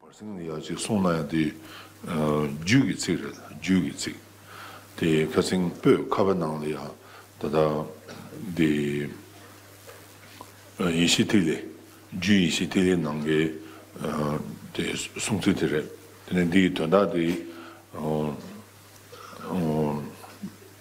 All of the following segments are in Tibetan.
བར་གསེང་ནས་ཡག་ཅིག་གསུངས་ན་ཡང་དེ་རྒྱུད་ཀྱི་ཚིག་རེད་རྒྱུད་ཀྱི་ཚིག་དེ་ཁ་སེང་སྤོས་ཁ་བའི་ནང་ལ་ཡང་ད་ལྟ་དེ་ཡེ་ཤེས་ཐིག་ལེ་རྒྱུད་ཡེ་ཤེས་ཐིག་ལེའི་ནང་གི་དེ་གསུངས་ཚུལ་དེ་རེད་དེ་ནས་འདི་ཡི་དོན་དག་དེ།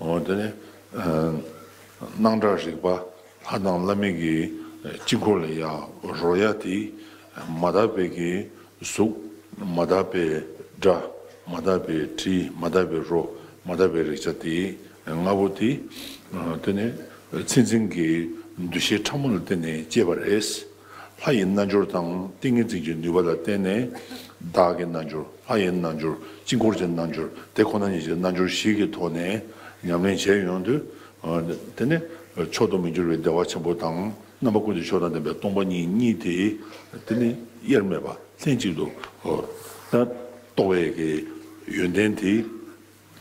འོ་དེ་ནི། སྣང་གྲགས་རིག་པ་ལྷ་དང་བླ་མེད་ཀྱི་དཀྱིལ་འཁོར་ལ་ཡང་རོལ་ཡ་དེ། མ་དག་པའི་ཀྱི་གཟུགས། མ་དག་པའི་སྒྲ། མ་དག་པའི་དྲི། མ་དག་པའི་རོ། མ་དག་པའི་རེག་བྱ་དེ་ལྔ་པོ་དེ། དེ་ནི། ཚེ་འཛིན་གྱི་འདུ་ཤེས་ཕྲ་མོ་ལ་བརྟེན་ནས་སྐྱེས་པ་རེད། ལྷ་ཡི་རྣལ་འབྱོར་དང་ཏིང་ངེ་འཛིན་གྱི་ནུས་པ་ལ་བརྟེན་ནས། བདག་གི་རྣལ་འབྱོར་ལྷ་ཡི་རྣལ་འབྱོར་དཀྱིལ་འཁོར་གྱི་རྣལ་འབྱོར་དེ་ཁོ་ན་ཉིད་ཀྱི་རྣལ་འབྱོར་བཞི་གི་ཐོག་ནས་ཉམས་ལེན་བྱས་ཡོང་དུས། དེ་ནི་མཆོག་ཏུ་མི་འགྱུར་བའི་བདེ་བ་ཆེན་པོ་དང་རྣམ་པ་ཀུན་གྱི་མཆོག་དང་ལྡན་པའི་སྟོང་པ་ཉིད་གཉིས་དེ་དེ་ནི་དབྱེར་མེད་པ་ལྷན་ཅིག་ཏུ་རྟོགས་པའི་ཡོན་ཏན་དེ།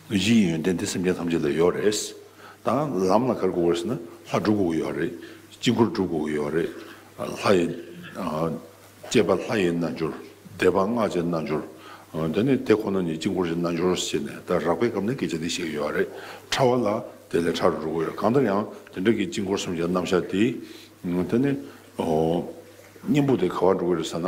གཞི་ཡི་ཡོན་ཏན་དེ་སེམས་ཅན་ཐམས་ཅད་ལ་ཡོད་རེད། ད་ལམ་ལ་གར་དགོས་པར་བྱས་ན་ལྷ་སྒྲུབ་དགོས་ཀྱི་ཡོད་རེད། དཀྱིལ་འཁོར་སྒྲུབ་དགོས་ཀྱི་ཡོད་རེད། ལྷ་ཡི། སྤྱད་པ་ལྷ་ཡི་རྣལ་འབྱོར། བཟླས་པ་སྔགས་ཀྱི་རྣལ་འབྱོར། དེ་ནི་དེ་ཁོ་ན་ཉིད་དཀྱིལ་འཁོར་གྱི་རྣལ་འབྱོར་ཞེས་ནས་ད་རག་པའི་སྐབས་ནས་སྐད་ཆ་འདི་བཤད་ཀྱི་ཡོད་རེད། ཕྲ་བ་ལ་དེ་ལས་ཕྲ་རུ་འགྲོ་དགོས་རེད་གང་ལྟར་ཡང་དེ་འདྲ་གི་དཀྱིལ་འཁོར་གསུམ་གྱི་རྣམ་གཞག་དེ། དེ་ནི། གཉེན་པོ་དེ་ག་བར་འགྲོ་གི་རེད་ཟེར་ན།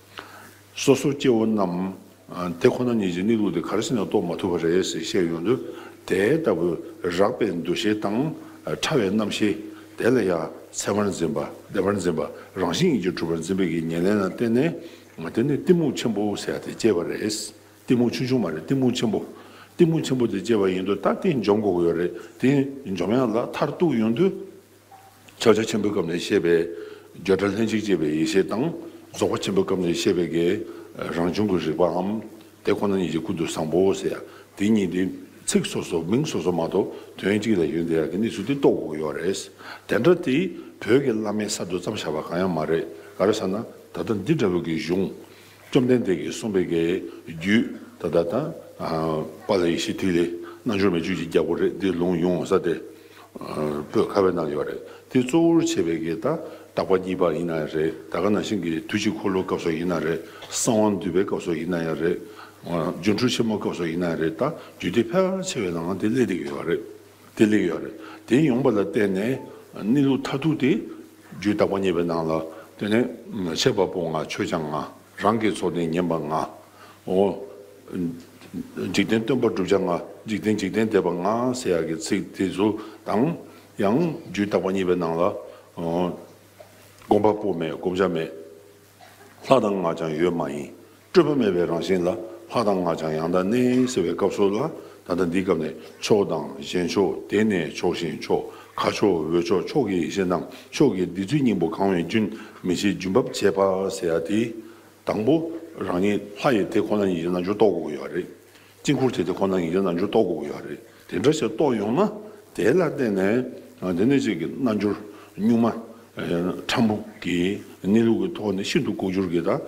སོ་སོ་སྐྱེ་བོ་རྣམས་དེ་ཁོ་ན་ཉིད་ཀྱི་གནས་ལུགས་དེ་གར་ཕྱིན་ནས་རྟོགས་མ་ཐུབ་པ་རེད་ཟེར་བཤད་ཡོང་དུས་དེ་ལྟ་བུའི་རགས་པའི་འདུ་ཤེས་དང་ཕྲ་བའི་རྣམ་ཤེས་དེ་ལ་ཡང་འཚེ་བར་འཛིན་པ་བདེ་བར་འཛིན་པ་རང་བཞིན་གྱིས་གྲུབ་པར་འཛིན་པའི་ཀྱི་ཉེར་ལེན་ལ་བརྟེན་ནས་དེ་ནི་གཏི་མུག་ཆེན་པོ་ཟེར་དེ་སྐྱེས་པ་རེད། གཏི་མུག་ཆུང་ཆུང་མ་རེད་གཏི་མུག་ཆེན་པོ། གཏི་མུག་ཆེན་པོ་དེ་སྐྱེས་པ་ཡིན་དུས་ད་དེ་འཇོམས་དགོས་ཀྱི་ཡོད་རེད་དེ་འཇོམས་ཡག་ལ་མཐར་གཏུགས་ཡོང་དུས། ཕྱག་རྒྱ་ཆེན་པོའི་སྐབས་ནས་བཤད་པའི་བརྗོད་བྲལ་ལྷན་ཅིག་སྐྱེས་པའི་ཡེ་ཤེས་དང། རྫོགས་པ་ཆེན་པོའི་སྐབས་ནས་བཤད་པའི་དགའི་རང་བྱུང་གི་རིག་པའམ། དེ་ཁོ་ན་ཉིད་ཀྱི་ཀུན་ཏུ་བཟང་པོའོ་ཟེར་ཡ། དེ་གཉིས་ནི་ཚིག་སོ་སོ་མིང་སོ་སོ་མ་གཏོགས་དོན་གཅིག་ལ་ཡོད་འདི་ཡག་གི་གནས་ཚུལ་འདི་རྟོགས་དགོས་ཡོད་རེད། དེ་འདྲ་དེ་བོད་ཀྱི་བླ་མའི་གསར་དུ་བརྩམས་བཞག་པ་གང་ཡང་མ་རེད་ག་རེ་ཟེར་ན་ད་ལྟ་འདི་འདྲ་བོད་ཀྱི་གཞུང། བཅོམ་ལྡན་འདས་ཀྱིས་གསུངས་པའི་གེགས་རྒྱུད་ད་ལྟ་དང། པཱ་ལི་ཡི་ཤེས་ཐིག་ལེ་རྣལ་འབྱོར་མའི་བཅུད་ཀྱི་རྒྱལ་པོ་རེད་འདི་ལུང་ཡོངས་འོང་ས་དེ་པོས་ཁ་བའི་ནང་ཡོད་རེད་འདི་གཙོ་བོར་བྱས་པའི་གེགས་དང་དག་པ་གཉིས་པ་ཡིན་ན་རེད་ད་ག་ན་ཤིང་གི་དུས་གཅིག་འཁོར་ལོ་སྐབས་སོགས་ཡིན་ན་རེད་གསང་བ་འདུས་པའི་སྐབས་སོགས་ཡིན་ན་ཡང་རེད་སྦྱོར་འཕྲུལ་ཆེན་མོ་སྐབས་སོགས་ཡིན་ན་རེད་ད་རྒྱུད་སྡེ་ཕལ་ཆེ་བའི་ནང་དེ་གླེགས་ཡོད་རེད་དེ་གླེགས་ཡོད་རེད་དེ་ཡོང་པ་ལ་བརྟེན་ནས་གནས་ལུགས་མཐར་ཐུག་དེ། རྒྱུད་དག་པ་བརྙེས་པའི་ནང་ལ་དེ་ནས། ཆད་པ་པོ་ང་ཆོས་སྦྱང་ང། རང་གི་ཚོགས་ནི་ཉན་པ་ང། འོ། འཇིག་རྟེན་སྟོན་པ་བསྒྲུབ་བྱ་ང། འཇིག་རྟེན་འཇིག་རྟེན་འདས་པ་ང་ཟེར་ཡག་གི་ཚིག་དེ་ཚོ་དང། ཡང། རྒྱུད་དག་པ་བརྙེས་པའི་ནང་ལ། སྒོམ་པ་པོ་མེད་སྒོམ་བྱ་མེད། ལྷ་དང་སྔགས་ཀྱང་ཡོད་མ་ཡིན། སྤྲོས་པ་མེད་པའི་རང་བཞིན་ལ་ལྷ་དང་སྔགས་ཀྱང་ཡང་དག་གནས་ཟེར་བའི་སྐབས་སོགས་ལ་ད་ལྟ་འདིའི་སྐབས་ནས་ཕྱོགས་དང་གཞན་ཕྱོགས་དེ་ནས་ཕྱོགས་གཞན་ཕྱོགས་ཁ་ཕྱོགས་འོད་ཕྱོགས་ཕྱོགས་ཀྱི་ཡེ་ཤེས་ནང་ཕྱོགས་ཀྱི་བདེ་ཚུལ་སྙིང་པོ་གང་བའི་རྒྱུན་མི་ཕྱེད་རྒྱུན་བབས་ཆད་པ་ཟེར་ཡ་དེ། དང་པོ་རང་ཉིད་ལྷ་ཡི་དེ་ཁོ་ན་ཉིད་ཀྱི་རྣལ་འབྱོར་རྟོགས་དགོས་ཡོད་རེད། དཀྱིལ་འཁོར་དེ་དེ་ཁོ་ན་ཡིན་གྱི་རྣལ་འབྱོར་རྟོགས་དགོས་ཀྱི་ཡོད་རེད། དེ་འདྲ་ཞིག་རྟོགས་ཡོང་ན་དེ་ལ་བརྟེན་ནས་དེ་ནས་ཅིག་གི་རྣལ་འབྱོར་གཉུག་མ་ཕྲ་མོ་གི་གནས་ལུགས་ཀྱི་ཐོག་ནས་ཤིན་ཏུ་ལྐོག་གྱུར་གྱི་དང་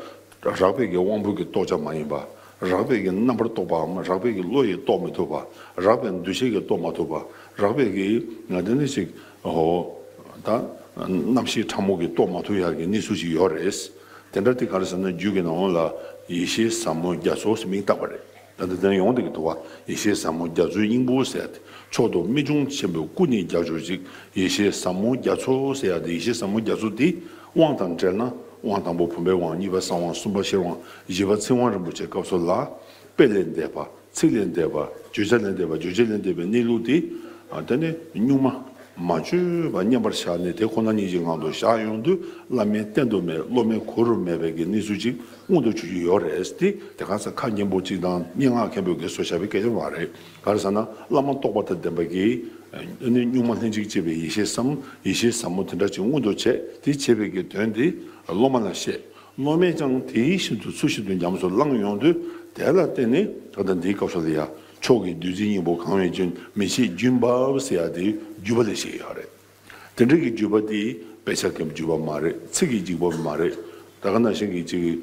རགས་པས་ཀྱི་དབང་པོ་གྱི་རྟོགས་བྱ་མ་ཡིན་པ། རགས་པས་ཀྱི་རྣམ་པར་རྟོག་པའམ་རགས་པས་ཀྱི་བློ་ཡིས་རྟོགས་མི་ཐུབ་པ། རགས་པས་འདུ་བྱེད་ཀྱིས་རྟོགས་མ་ཐུབ་པ། རགས་པས་ཀྱི་དེ་ནས་ཅིག་ཧོ། ད། རྣམ་ཤེས་ཕྲ་མོ་གི་རྟོགས་མ་ཐུབ་ཡར་གྱི་གནས་ཚུལ་ཞིག་ཡོད་རེད། དེ་འདྲ་དེ་ག་རེ་ཟེར་ན་རྒྱུད་ཀྱི་ནང་ངོ་ལ་ཡེ་ཤེས་ཟབ་མོ་རྒྱ་མཚོ་ཞེས་མིང་བཏགས་པ་རེད། ད་འདི་ལྟར་ཡོང་སྟེ་གི་དུ་བ་ཡེ་ཤེས་ཟབ་མོ་རྒྱ་མཚོའི་སྙིང་པོ་ཟེར་ཡ་དེ་མཆོག་ཏུ་རྨད་བྱུང་ཆེན་པོའི་སྐུ་ནི་རྒྱ་སྦྱོར་ཅིག་ཡེ་ཤེས་ཟབ་མོ་རྒྱ་མཚོ་ཟེར་ཡ་དེ་ཡེ་ཤེས་ཟབ་མོ་རྒྱ་མཚོ་དེ་དབང་དང་བྲལ་ན་དབང་དང་པོ་བུམ་པའི་དབང་གཉིས་པ་གསང་དབང་གསུམ་པ་ཤེར་དབང་བཞི་པ་ཚིག་དབང་རིན་པོ་ཆེ་སྐབས་སོགས་ལ་དཔེ་ལས་འདས་པ་ཚིག་ལས་འདས་པ་བརྗོད་བྱ་ལས་འདས་པ་བརྗོད་བྱེད་ལས་འདས་པའི་གནས་ལུགས་དེ། དེ་ནི་གཉུག་མ་མ་བཅོས་པ་མཉམ་པར་བཞག་ནས་དེ་ཁོ་ན་ཉིད་ཀྱི་ངང་དུ་བཞག་ཡོང་དུས་བླ་མའི་བསྟན་དུ་མེད་སློབ་མའི་གོ་རུ་མེད་པའི་གི་གནས་ཚུལ་ཅིག་མངོན་དུ་ཆུད་ཀྱི་ཡོད་རེད་དེ། དེ་གང་ཟག་ཁ་སྙན་པོ་ཅིག་དང་སྙན་ངག་མཁན་པོས་གེ་སོ་བྱ་བའི་སྐལ་ཡང་མ་རེད། ག་རེ་ཟེར་ན་བླ་མ་རྟོགས་པ་དང་ལྡན་པ་གིས། དེ་ནི་གཉུག་མ་ལྷན་ཅིག་སྐྱེས་པའི་ཡེ་ཤེས་སམ་ཡེ་ཤེས་ཟབ་མོ་དེ་འདྲ་ཅིག་མངོན་དུ་བྱས་དེ་བྱས་པའི་གི་དོན་དེ་སློབ་མ་ལ་བཤད། སློབ་མས་ཀྱང་དེ་བཞིན་དུ་ཚུལ་བཞིན་དུ་ཉམས་སུ་བླངས་ཡོང་དུས་དེ་ལ་བརྟེན་ནས་ད་ལྟ་འདིའི་སྐབས་སུ་ལ་ཡ་མཆོག་གི་བདུད་རྩི་སྙིང་པོ་གང་བའི་རྒྱུན་མི་ཕྱེད་རྒྱུན་འབབ་ཟེར་ཡ་དེའི་བརྒྱུད་པ་ལས་ཤེས་ཡོད་རེད། དེ་འདྲ་གི་བརྒྱུད་པ་དེ་དཔེ་ཆ་གི་བརྒྱུད་པ་མ་རེད་ཚིག་གི་བརྒྱུད་པ་མ་རེད་ད་ག་ན་ཞིང་གི་ཅིག་གི་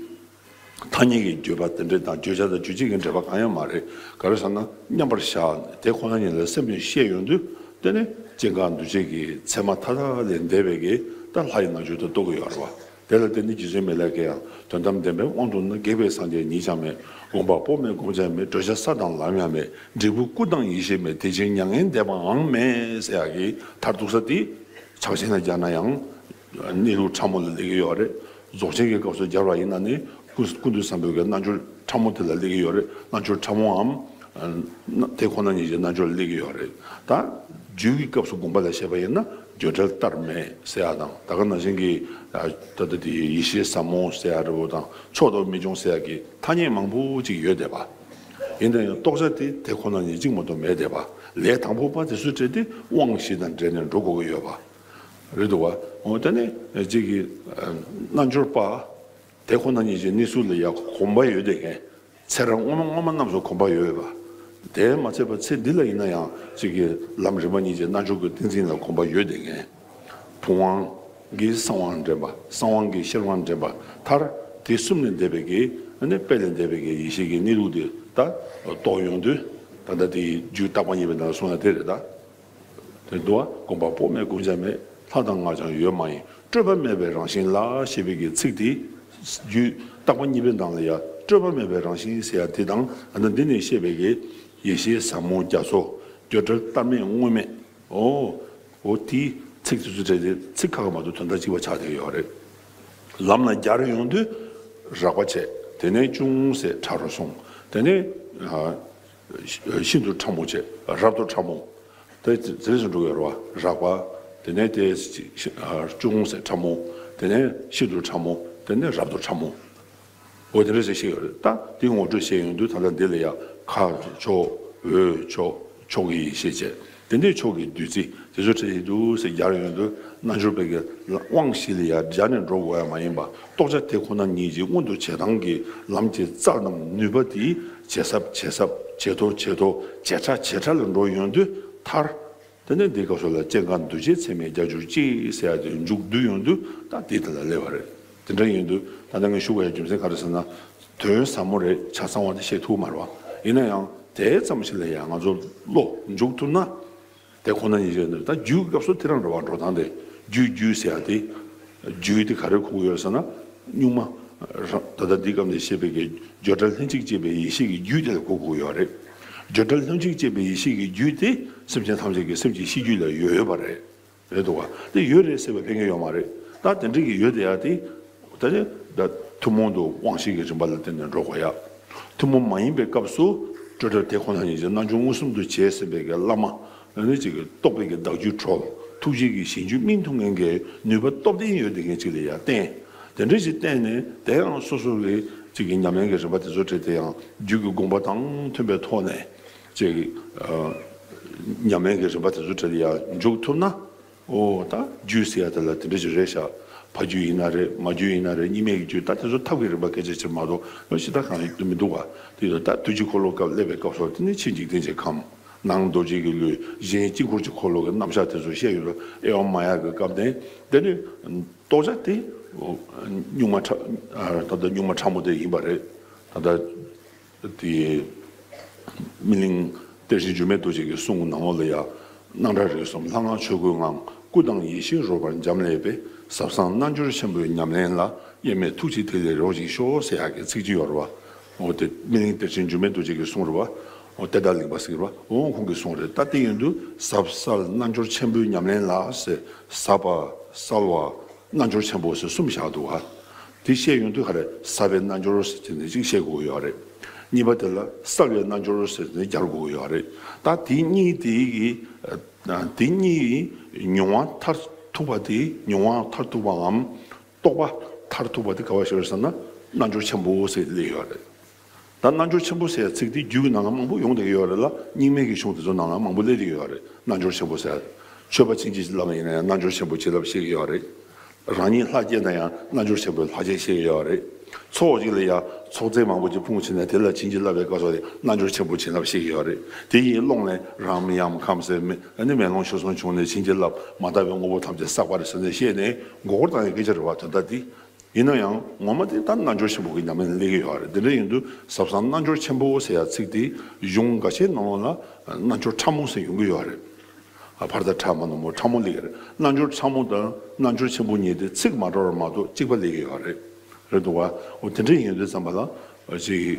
ཐ་སྙད་ཀྱི་བརྒྱུད་པ་དེ་འདྲ་དང་བརྗོད་བྱ་དང་བརྗོད་བྱེད་ཀྱི་འབྲེལ་པ་གང་ཡང་མ་རེད་ག་རེ་ཟེར་ན་མཉམ་པར་བཞག་དེ་ཁོ་ན་ཉིད་ལ་སེམས་ནས་ཤེས་ཡོང་དུས་དེ་ནི་སྐྱེ་འགག་འདུ་བྱེད་ཀྱི་མཚན་མ་མཐའ་དག་ལས་འདས་པའི་གེ་ད་ལྷ་ཡི་རྣལ་འབྱོར་དུ་རྟོགས་ཀྱི་ཡོད་རེད་བ། དེ་ལ་བརྟེན་ནས་རྒྱུད་ཆེན་མེད་ལས་དགེ་ཡང་དོན་དམ་བདེན་པའི་དབང་དུ་ན་དགེ་བའི་སངས་རྒྱས་ཉིད་ཀྱང་མེད་དགོངས་པ་པོ་མེད་བསྒོམ་བྱ་མེད་བགྲོད་བྱ་ས་དང་ལམ་ཡང་མེད་འབྲས་བུ་སྐུ་དང་ཡེ་ཤེས་མེད་དེ་བཞིན་མྱ་ངན་འདས་པའང་མེད་ཟེར་ཡག་གི་མཐར་གཏུགས་ས་དེ་ཕྱག་ཆེན་ལ་སྦྱར་ན་ཡང་གནས་ལུགས་ཕྲ་མོ་ལ་ལེགས་ཡོད་རེད་རྫོགས་ཆེན་གྱི་སྐབས་སུ་སྦྱར་བ་ཡིན་ན་ནི་ཀུན་ཏུ་བཟང་པོའི་གནས་རྣལ་འབྱོར་ཕྲ་མོ་དེ་ལ་སླེབས་ཀྱི་ཡོད་རེད། རྣལ་འབྱོར་ཕྲ་མོའམ། དེ་ཁོ་ན་ཉིད་ཀྱི་རྣལ་འབྱོར་ལ་སླེབས་ཀྱི་ཡོད་རེད། ད་རྒྱུད་ཀྱི་སྐབས་སུ་དགོངས་པ་ལ་བཤད་པ་ཡིན་ན་བརྗོད་བྲལ་བལྟར་མེད་ཟེར་ཡ་དང་ད་ག་ན་ཞིང་གི་ད་ལྟ་དེ་ཡེ་ཤེས་ཟབ་མོ་ཟེར་ཡ་རི་བོ་དང་མཆོག་ཏུ་མི་འབྱུང་ཟེར་ཡ་གི་ཐ་སྙད་མང་པོ་ཅིག་ཡོད་བསྡད་པ། ཡིན་ན་ཡང་རྟོགས་བྱ་དེ་དེ་ཁོ་ན་ཉིད་གཅིག་མ་གཏོགས་མེད་བསྡད་པ་ལས་དང་པོ་པ་དེ་སུ་བྲལ་ཏེ་དབང་བཞི་དང་འབྲེལ་ནས་འགྲོ་དགོས་ཀྱི་ཡོད་པ་རེད་འདུག་བ། ད་ནི་རྗེས་ཀྱི་རྣལ་འབྱོར་པ། དེ་ཁོ་ན་ཉིད་ཀྱི་གནས་ཚུལ་ལ་ཡང་གོམས་པ་ཡོད་དེ་ངས་ཚེ་རབས་སྔོན་མ་སྔོན་མ་རྣམས་སུ་གོམས་པ་ཡོད་པ་དེས་མ་ཚད་པར་ཚེ་འདི་ལ་ཡིན་ན་ཡང་གཅིག་གིས་ལམ་རིམ་པ་གཉིས་ཀྱི་རྣལ་འབྱོར་གྱི་ཏིང་འཛིན་ལ་གོམས་པ་ཡོད་དེ་ངས་ཐུབ་དབང་གིས་གསང་དབང་འདྲེན་པ་གསང་དབང་གིས་ཤེར་དབང་འདྲེན་པ་མཐར་དེ་གསུམ་ལས་འདས་པའི་གེགས་ནི་དཔེ་ལས་འདས་པའི་གེགས་ཡེ་ཤེས་ཀྱི་གནས་ལུགས་འདི་ལྟར་རྟོགས་ཡོང་དུས་ད་ལྟ་དེའི་རྒྱུད་རྟག་པ་ཉིད་པའི་ནང་གསུངས་ན་དེ་རེད་ད། དོན་དུ་བ་བསྒོམ་པ་པོ་མེད་བསྒོམ་བྱ་མེད་ལྷ་དང་སྔགས་ཀྱང་ཡོད་མ་ཡིན་སྤྲོས་པ་མེད་པའི་རང་བཞིན་ལ་ཞེས་པའི་གི་ཚིག་དེ། རྒྱུད་བཏགས་པ་གཉིས་པའི་ནང་ལ་ཡང་སྤྲོས་པ་མེད་པའི་རང་བཞིན་ཟེར་ཡ་དེ་དང་ཡང་ན་འདི་ནས་བཤད་པའི་གི་ཡེ་ཤེས་ཟབ་མོ་རྒྱ་མཚོ་འདོད་བྲལ་བལྟར་མེད་དངོས་མེད་འོ། འོ་དེ་ཚིག་དེ་ཚོ་བྲལ་ཏེ་ཚིག་ཁ་ཁ་མ་ཏུ་དོན་དག་གཅིག་པ་ཆགས་བསྡད་ཡོད་རེད། ལམ་ལ་རྒྱ་རུ་ཡོང་དུས་རགས་པ་བྱས་དེ་ནས་ཅུང་ཟད་ཕྲ་རུ་སོང་དེ་ནས། ཤིན་ཏུ་ཕྲ་མོ་བཅས་རབ་ཏུ་ཕྲ་མོ། དེ་ལས་སུ་འགྲོ་བའི་རོ་རགས་པ། དེ་ནས་དེ་ཅུང་ཟད་ཕྲ་མོ། དེ་ནས་ཤིན་ཏུ་ཕྲ་མོ། དེ་ནས་རབ་ཏུ་ཕྲ་མོ། འོ་དེ་ལས་སུ་ཤེས་ཡོད་ད། དེའི་ངོ་སྤྲོད་བྱེད་ཡོང་དུས་ད་ལྟ་འདི་ལ་ཡང། ཁ། ཕྱོགས། འོད། ཕྱོགས། ཕྱོགས། ཡེ་ཤེས་བཅས། དེ་འདྲའི་ཕྱོགས་ཀྱི་བདུད་རྩི་དེ་ཚོ་བྲིས་འདུག་ཟེར་རྒྱ་ཡོད་དུ་རྣལ་འབྱོར་པའི་གི་དབང་ཞིག་ལ་ཡང་སྦྱར་ནས་འགྲོ་དགོས་ཡ་མ་ཡིན་པ་རྟོགས་བྱ་དེ་ཁོ་ན་ཉིད་ཀྱི་མངོན་དུ་བྱེད་སྟངས་ཀྱི་ལམ་གྱི་རྩ་རྣམས་ནུས་པ་དེས་ཇེ་ཟབ་ཇེ་ཟབ་ཇེ་མཐོ་ཇེ་མཐོ་ཇེ་ཕྲ་ཇེ་ཕྲ་ལ་འགྲོ་ཡོང་དུས་མཐར། དེ་ནས་འདི་སྐབས་སུ་ལ་སྤྱན་དཀར་འདུལ་བྱེད་ཚད་མའི་རྒྱ་གྱུར་ཅིག་ཟེར་ཡ་དེ་མཇུག་བསྡུ་ཡོང་དུས་ད་དེ་དེ་ལ་སླེབས་པ་རེད་དེ་འདྲ་ཡིན་དུས་ད་ནང་གི་བཞུགས་པ་ཡ་རྒྱུ་མཚན་ག་རེ་ཟེར་ན། དོན་ཟབ་མོ་རེད་ཆ་ཚང་བ་དེ་བཤད་ཐུབ་མ་རེད་བ། ཡིན་ན་ཡང་དེ་ཙམ་ཞིག་ལ་ཡང་ང་ཚོ་བློ་འཇུག་ཐུབ་ན་དེ་ཁོ་ན་ཉིད་རེད་འདོད། ད་རྒྱུའི་སྐབས་སུ་ཐེ་རང་རེད་བ་འགྲོ་སྟངས་དེ་རྒྱུ་རྒྱུ་ཟེར་ཡ་དེ་རྒྱུ་དེ་ག་རེ་ཁུག་ཡོད་ཟེར་ན་སྙུག་མ་རང་ད་ལྟ་འདི་སྐབས་འདི་ཤེས་པའི་གེ་བརྗོད་བྲལ་ལྷན་ཅིག་སྐྱེས་པའི་ཡེ་ཤེས་ཀྱི་རྒྱུ་དེ་ལ་གུ་གུག་ཡོད་རེད། བརྗོད་བྲལ་ལྷན་ཅིག་སྐྱེས་པའི་ཡེ་ཤེས་ཀྱི་རྒྱུ་དེ་སེམས་ཅན་ཐམས་ཅད་ཀྱི་སེམས་ཀྱི་གཤིས་རྒྱུད་ལ་ཡོད་ཡོད་པ་རེད། རེད་འདུག་ག་དེ་ཡོད་རེད་ཟེར་བའི་དཔེ་ངན་ཡོད་མ་རེད་ད་དེ་འདྲས་ཀྱི་ཡོད་དེ་ཡ་དེ་ད་ནི་ད་ཐུན་མོང་དུ་དབང་ཤེས་ཀྱི་རིམ་པ་ལ་བརྟེན་ནས་འགྲོ་དགོས་ཡ། ཐུན་མོང་མ་ཡིན་པའི་སྐབས་སུ་སྤྲོས་བྲལ་དེ་ཁོ་ན་ཉིད་ཀྱི་རྣལ་འབྱོར་མངོན་སུམ་དུ་བྱས་ཟིན་པའི་བླ་མ་ལ་ནི་གཅིག་གིས་རྟོགས་པའི་བདག་རྒྱུད་ཁྲོ་ཐུགས་རྗེ་གི་ཞིང་བཅུ་སྨིན་ཐུབ་མཁན་གྱི་ནུས་པ་སྟོབས་ལྡན་ཡོད་དེ་མཁན་གཅིག་ལ་ཡ་བརྟེན་དེ་འདྲས་ཀྱིས་བརྟེན་ནས་དེའང་སོ་སོ་གི་གཅིག་གི་ཉམས་ལེན་གྱི་རིམ་པ་དེ་ཚོ་བྲིས་དེའང་རྒྱུད་ཀྱི་དགོངས་པ་དང་མཐུན་པའི་ཐོག་ནས་ཅེས་ཀྱི། མཉམ་མེད་ཀྱི་རིམ་པ་དེ་ཚོ་དྲིལ་ཡ་འཇུག་ཐུབ་ན། ཨོ། ད་རྒྱུད་ཟེར་ཡ་དེ་ལ་དེ་འདྲ་ཞིག་རེད་ཤག་ཕ་རྒྱུད་ཡིན་ན་རེད་མ་རྒྱུད་ཡིན་ན་རེད་གཉིས་མེད་ཀྱི་རྒྱུད་ད་དེ་ཚོ་ཐབས་ཀྱི་རིམ་པ་གལ་ཆེ་ཆེ་མ་གཏོགས་ནོ་ཞེ་ད་གང་ཡོད་མི་འདུག་བ་དེ་ཡོད་ད་བདུད་ཀྱི་འཁོར་ལོ་སྐབས་སླེབས་པའི་སྐབས་སོགས་དེ་ནི་ཕྱི་འཇིག་རྟེན་གྱི་ཁམས་ནང་རྡོ་རྗེ་ཀྱི་ལུས་གཞན་དཀྱིལ་འཁོར་གྱི་འཁོར་ལོ་གྱི་རྣམ་གཞག་དེ་ཚོ་བཤད་ཡོད་རོ་ཨེ་འོ་མ་ཡག་གི་སྐབས་དེ་དེ་ནི་རྟོགས་བྱ་དེ་གཉུག་མ་ད་ལྟ་གཉུག་མ་ཕྲ་མོ་དེ་ཡིན་པ་རེད་ད་ལྟ། དེ་སྨིན་གླིང་གཏེར་གཞི་འགྱུར་མེད་རྡོ་རྗེ་ཀྱི་གསུང་གི་ནང་འོག་ལ་ཡང་སྣང་གྲགས་རིག་གསུམ་ལྷ་སྔགས་ཆོས་སྐུའི་ངང་སྐུ་དང་ཡེ་ཤེས་རོལ་པར་འབྱམས་ཀླས་པས་ཟབ་གསང་རྣལ་འབྱོར་ཆེན་པོའི་ཉམས་ལེན་ལ་གཡེལ་མེད་ཐུགས་རྗེས་ཐིག་ལེ་རོ་གཅིག་ཤོག་ཟེར་ཡག་གི་ཚིག་གཅིག་ཡོད་རེད་བ། འོ་དེ་སྨིན་གླིང་གཏེར་གཞི་འགྱུར་མེད་རྡོ་རྗེ་ཀྱི་གསུང་རེད་བ། འོ་དེ་བདག་གླིང་པ་ཟེར་བ་འོང་ཁོང་གི་གསུང་རེད་ད་དེ་ཡིན་དུས་ཟབ་གསལ་རྣལ་འབྱོར་ཆེན་པོའི་ཉམས་ལེན་ལ་ཟེར་ཟབ་བ་གསལ་བ་རྣལ་འབྱོར་ཆེན་པོ་ཟེར་གསུམ་བཞག་འདུག་བ། དེ་བཤད་ཡོང་དུས་ཧ་རེ་ས་པའི་རྣལ་འབྱོར་ཟེར་དེ་ནས་ཅིག་བཤད་དགོས་ཀྱི་ཡོད་རེད། གཉིས་པ་དེ་ལ་གསར་བའི་རྣལ་འབྱོར་ཟེར་དེ་ནས་བསྐྱར་དགོས་ཀྱི་ཡོད་རེད། ད་དེ་གཉིས་དེ་གི་དེ་གཉིས་ཀྱི་མྱོང་བ་མཐར་ཐུག་པ་དེ་མྱོང་བ་མཐར་ཐུག་པའམ་རྟོགས་པ་མཐར་ཐུག་པ་དེ་ག་བ་ཞིག་རེད་ཟེར་ན་རྣལ་འབྱོར་ཆེན་པོ་ཟེར་དེ་ལས་ཡོད་རེད། ད་རྣལ་འབྱོར་ཆེན་པོ་ཟེར་བའི་ཚིག་དེའི་རྒྱུད་ཀྱི་ནང་ལ་མང་པོ་ཡོང་བསྡད་ཀྱི་ཡོད་རེད་ལ་རྙིང་མའི་གི་གཞུང་དེ་ཚོ་ནང་ལའང་མང་པོ་སླེབས་ཀྱི་ཡོད་རེད་རྣལ་འབྱོར་ཆེན་པོ་ཟེར། མཆོད་པ་ཕྱིན་ཅི་ལོག་ཡིན་ན་ཡང་རྣལ་འབྱོར་ཆེན་པོའི་བྱིན་རླབས་ཤེས་ཀྱི་ཡོད་རེད། རང་ཉིད་ལྷ་བསྐྱེད་ན་ཡང་རྣལ་འབྱོར་ཆེན་པོའི་ལྷ་བསྐྱེད་ཤེས་ཀྱི་ཡོད་རེད། ཚོགས་གཅིག་ལ་ཡང་ཚོགས་རྫས་མང་པོ་གཅིག་ཕུང་བྱས་ན་དེ་ལ་བྱིན་གྱིས་བརླབས་པའི་སྐབས་སོགས་ཀྱི་རྣལ་འབྱོར་ཆེན་པོའི་བྱིན་རླབས་ཤེས་ཀྱི་ཡོད་རེད། དེ་ཡི་ཀློང་ནས་རང་མི་ཡང་ཁམས་གསེར་མི་ནི་མེ་ལོང་ཞོ་གསུམ་བྱུང་ནས་བྱིན་གྱིས་བརླབས་མ་དག་པའི་དངོས་པོ་ཐམས་ཅད་བསགས་པ་རེད་ཟེར་ནས་བཤད་ནས་མགོ་སྐོར་བཏང་ཡོད་སྐད་ཆ་རེད་བ་དོན་དག་འདི་ཡིན་ན་ཡང་ངོ་མ་དེ་ལྟར་རྣལ་འབྱོར་ཆེན་པོ་གི་ཉམས་ལེན་སླེབས་ཀྱི་ཡོད་རེད་དེ་འདྲ་ཡིན་དུས་ཟབ་གསང་རྣལ་འབྱོར་ཆེན་པོ་ཟེར་ཡ་ཚིག་དེའི་གཞུང་འགའ་ཤས་ནང་ལ་རྣལ་འབྱོར་ཕྲ་མོ་ཟེར་ཡོང་གི་ཡོད་རེད། བར་དག་ཕྲ་མ་ནོར་མོ་ཕྲ་མོ་ལེགས་རེད་རྣལ་འབྱོར་ཕྲ་མོ་དང་རྣལ་འབྱོར་ཆེན་པོ་གཉིས་དེ་ཚིག་མ་འདྲ་བ་མ་གཏོགས་གཅིག་པ་ལེགས་ཀྱི་ཡོད་རེད། རེད་འདུག་བ། འོ་དེ་འདྲ་ཡིན་དུས་ཙམ་པ་ལ། གཅིག།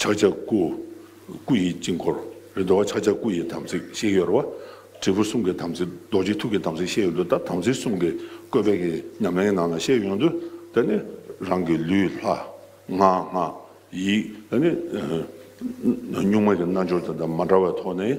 ཕྱག་རྒྱ་སྐུ། སྐུ་ཡི་དཀྱིལ་འཁོར་རེ་འདོད་བ། ཕྱག་རྒྱ་སྐུ་ཡི་དམ་ཚིག་བཤད་ཡོད་རེ་བ། དྲིལ་བུ་གསུམ་གྱི་དམ་ཚིག་རྡོ་རྗེ་ཐུགས་ཀྱི་དམ་ཚིག་བཤད་ཡོད་འདུག་ད་དམ་ཚིག་གསུམ་གྱི་བཀོད་པའི་གི་ཉམས་ལེན་ནང་ན་བཤད་ཡོད་འདུག་ད་ནི་རང་གི་ལུས་ལྷ། ངག་སྔགས། ཡིད། ད་ནི། གཉུག་མ་གྱི་རྣལ་འབྱོར་དེ་དང་མ་འདྲ་བའི་ཐོག་ནས།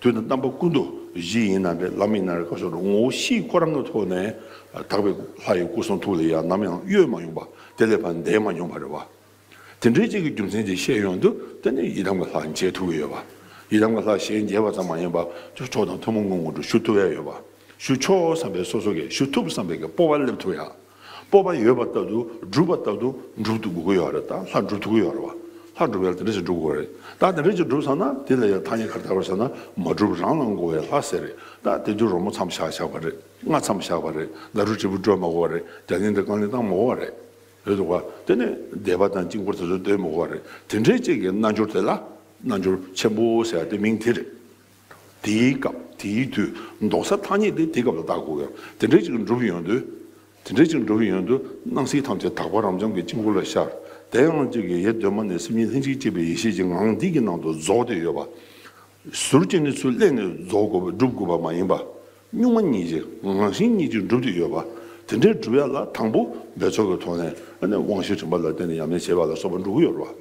དུས་དང་རྣམ་པ་ཀུན་ཏུ་བཞི་ཡིན་ནམ་བླ་མེད་ན་རེ་སྐབས་སོགས་སུ་ངོ་བོ་བཞིའི་སྐུ་རང་གི་ཐོག་ནས་དག་པའི་ལྷ་ཡི་སྐུ་གསུང་ཐུགས་ལས་ཡང་ནམ་ཡང་གཡོས་མ་མྱོང་པ་དེ་ལས་ཕར་འདས་མ་མྱོང་བ་རེད་བ། དེ་འདྲའི་གཅིག་གི་རྒྱུ་མཚན་དེ་བཤད་ཡོང་དུས་དེ་ནི་ཡི་དམ་གྱི་ལྷ་མཇལ་ཐུབ་ཀྱི་ཡོད་བ། ཡི་དམ་གྱི་ལྷ་གཞན་མཇལ་བ་ཙམ་མ་ཡིན་པར་ཆོས་ཕྱོགས་དང་ཐུན་མོང་གི་ངོ་བོ་དྲུག་ཞུ་ཐུབ་ཡ་ཡོད་བ། ཞུ་ཆོག་བསམ་པའི་སོ་སོ་གས་ཞུ་ཐུབ་བསམ་པའི་གས་སྤོ་བ་སླེབས་ཐུབ་ཡ། སྤོབས་པ་ཡོད་པ་ལྟ་དུ་སྒྲུབ་པ་ལྟ་དུ་འགྲུབ་ཐུབ་དགོས་ཀྱི་ཡོད་རེད་ད་ལྷ་འགྲུབ་ཐུབ་ཀྱི་ཡོད་རེད་བ་ལྷ་འགྲུབ་ཡག་དེ་འདྲ་ཞིག་འགྲུབ་དགོས་རེད་ད་དེ་འདྲ་ཞིག་འགྲུབ་ཚར་ན་དེ་ལ་ཡང་ཐ་སྙད་གར་དར་བར་བྱས་ན་མ་འགྲུབ་རང་ལ་འགོ་བའི་ལྷ་ཟེར་རེད་ད་དེ་དུས་རོལ་མོ་མཚམས་བཞག་བཞག་པ་རེད་རྔ་མཚམས་བཞག་པ་རེད་ཟླ་གྲུ་དྲིལ་བུ་དཀྲོལ་མ་གོ་བ་རེད་རྒྱ་ལིང་དྲིལ་རྐང་ལིང་བཏང་མ་གོ་བ་རེད་རེད་འདུག་བ་དེ་ནས་སྡེ་པ་དང་དཀྱིལ་འཁོར་དེ་ཚོ་སྡོད་མ་གོ་བ་རེད་དེ་འདྲའི་ཅིག་གི་རྣལ་འབྱོར་དེ་ལ་རྣལ་འབྱོར་ཆེན་པོ་ཟེར་བ་དེ་མིང་དེ་རེད། དེའི་སྐབས་དེའི་དུས་འདོགས་སའི་ཐ་སྙད་དེ་དེའི་སྐབས་ལ་བཏགས་དགོས། ཡང་དེ་འདྲའི་ཅིག་འགྲུབ་ཡོང་དུས། དེ་འདྲའི་ཅིག་འགྲུབ་ཡོང་དུས་སྣང་སྲིད་ཐམས་ཅད་དག་པ་རབ་འབྱམས་ཀྱི་དཀྱིལ་འཁོར་ལ་ཤར། དེའང་གཅིག་གི་ཡེ་གདོད་མ་ནས་སེམས་ཉིད་ལྷན་ཅིག་སྐྱེས་པའི་ཡེ་ཤེས་ཀྱི་ངང་འདི་ཀྱི་ནང་དུ་རྫོགས་ཏེ་ཡོད་པ། ཟུར་གྱི་གནས་ཚུལ་གླད་ནས་རྫོགས་དགོས་པ་འགྲུབ་དགོས་པ་མ་ཡིན་པ། གཉུག་མ་གཉིས་ཀྱི་ངང་ཞིང་གཉིས་ཀྱིས་འགྲུབ་ཏེ་ཡོད་པ། དེ་འདྲའི་འགྲུབ་ཡ་ལ་དང་པོ་འབད་རྩོལ་གྱི་ཐོག་ནས་དབང་ཤེས་དྲན་པ་ལ་བརྟེན་ནས་ཡམས་ནས་བྱེད་པ་ལ་སོགས་པ་འགྲུབ་ཀྱི་ཡོད་རེད་བ།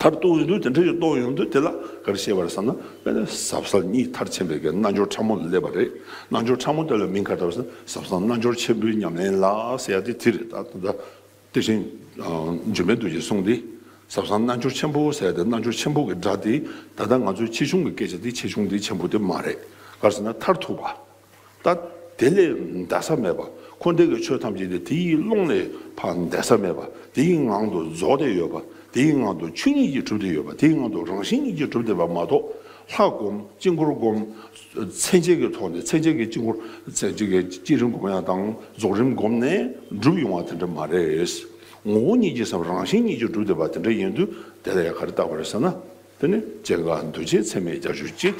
མཐར་གཏུགས་ཡོང་དུས་དེ་འདྲ་ཞིག་རྟོགས་ཡོང་དུས་དེ་ལ་ག་རེ་བཤད་པར་བསམ་ན་དཔེར་ན་ཟབ་གསང་གཉིས་མཐར་ཕྱིན་པའི་སྐད་རྣལ་འབྱོར་ཕྲ་མོ་ལ་སླེབས་པ་རེད། རྣལ་འབྱོར་ཕྲ་མོ་དེ་ལ་མིང་ག་ལྟར་བསམ་ན་ཟབ་གསང་རྣལ་འབྱོར་ཆེན་པོའི་ཉམས་ལེན་ལ་ཟེར་ཡ་དེ་དེ་རེད་ད་ལྟ་དེ་བཞིན་འབྱོན་པའི་དུས་ཀྱི་གསུང་དེ་ཟབ་གསང་རྣལ་འབྱོར་ཆེན་པོ་ཟེར་ཏེ་རྣལ་འབྱོར་ཆེན་པོ་གི་སྒྲ་དེ་ད་ལྟ་ང་ཚོས་ཆེ་ཆུང་གི་སྐད་ཆ་དེ་ཆེ་ཆུང་དེ་ཆེན་པོ་དེ་མ་རེད་ག་རེ་ཟེར་ན་མཐར་ཐུག་པ། ལྟ། དེ་ལས་འདས་ས་མེད་པ་འཁོར་འདས་ཀྱི་ཆོས་ཐམས་ཅད་ནི་དེའི་ཀློང་ལས་འཕགས་འདས་ས་མེད་པ་དེའི་ངང་དུ་རྫོགས་བསྡད་ཡོད་པ་དེའི་ངང་དུ་ཆོས་ཉིད་ཀྱིས་གྲུབ་བསྡད་ཡོད་པ་དེའི་ངང་དུ་རང་བཞིན་ཉིད་ཀྱིས་གྲུབ་བསྡད་པ་མ་གཏོགས་ལྷ་བསྒོམ་དཀྱིལ་འཁོར་བསྒོམ། མཚན་བཅས་ཀྱི་ཐོག་ནས་མཚན་བཅས་ཀྱི་དཀྱིལ་འཁོར་བསྐྱེད་རིམ་བསྒོམ་ཡང་དང་རྫོགས་རིམ་བསྒོམ་ནས་འགྲུབ་ཡོང་བ་དེ་འདྲ་མ་རེད། ངོ་བོ་ཉིད་ཀྱི་སེམས་རང་བཞིན་ཉིད་ཀྱིས་གྲུབ་བསྡད་པ་དེ་འདྲ་ཡིན་དུས་དེ་ལ་ཡང་ག་རེ་བཏགས་པ་རེད་ཟེར་ན། དེ་ནི་སྐྱེ་འགག་འདུ་བྱེད་ཚད་མའི་རྒྱ་ཆོས་གཅིག།